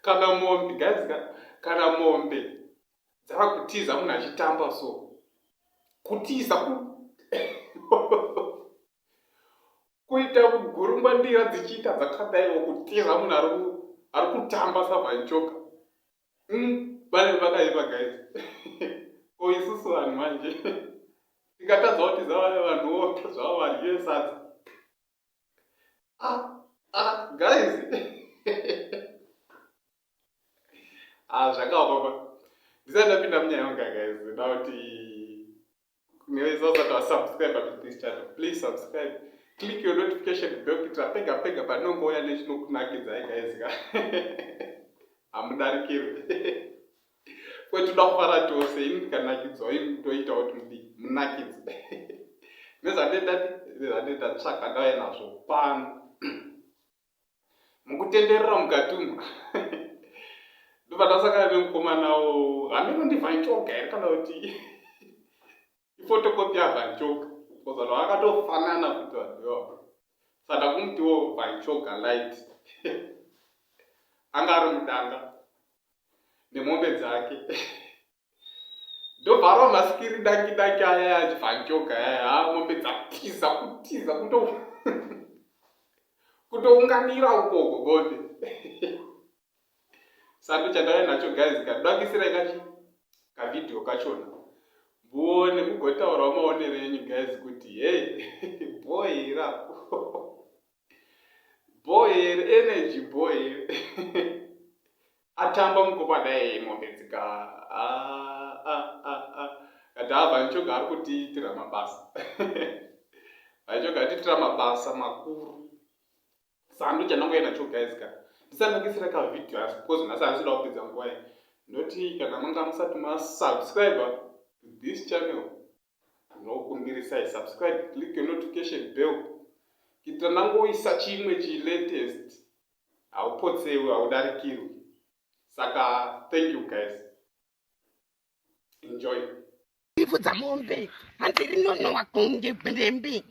kana mombe guys kana mombe dzava kutiza munhu achitamba so kutiza ku kuita kugurungwa ndira dzichiita dzakadaiwo kutiza munhu ari kutamba savaichoka Hmm, pane pakaipa guys ko isusu vanhu manje tikatadza kuti zavaya vanhu woka zvavo vadye sadza ah, ah, guys ah, zvakaoma ndisati ndapinda munyaya yonga guys nda kuti Kunyaye zvaza ta subscribe to this channel. Please subscribe. Click your notification bell kuitira pega pega panongouya nechinokunakidza guys ka. Hamudarikirwe. Kwete toda kufara tose ini ndikanakidzwa ini ndoita kuti mudi munakidze. Nezvandaita nezvandaita tsvaka ndauya nazvo pano. mukutenderera mukati umu ndobva ndasakana nemukomanawo hameno ndivanchoka here kana kuti ifotokopi yavanchoka kozano akatofanana kuti vanhuyo saka kumutiwo vanchoka light anga ari mudanga nemombe dzake ndobvarwa masikiri daki daki aya yachifanchoka yaya ha mombe dzatiza kutiza kuto kutounganira ukoko bonde sando chandave nacho guys kadakisirai kachi kavideo kachona muone mugotaurawo maonero enyu guys kuti hey boy rapo Boy here energy boy here atamba mukoma dai mombe dzika ah, ah, ah, ah. kati ava ah, nchoga ari kutiitira mabasa aichoga atiitira mabasa makuru sandu chanangoya nacho guys ka ndisanakisira ka video asi because nhasi anisida kupedza nguva ye ndoti kana manga musati masubscriber to this channel ndinokumbirisai subscribe click your notification bell kuitira ndangoisa chimwe chilatest haupotsewi haudarikirwi saka thank you guys enjoy ipfudza mombe hanzi rinonowa kunge bwembi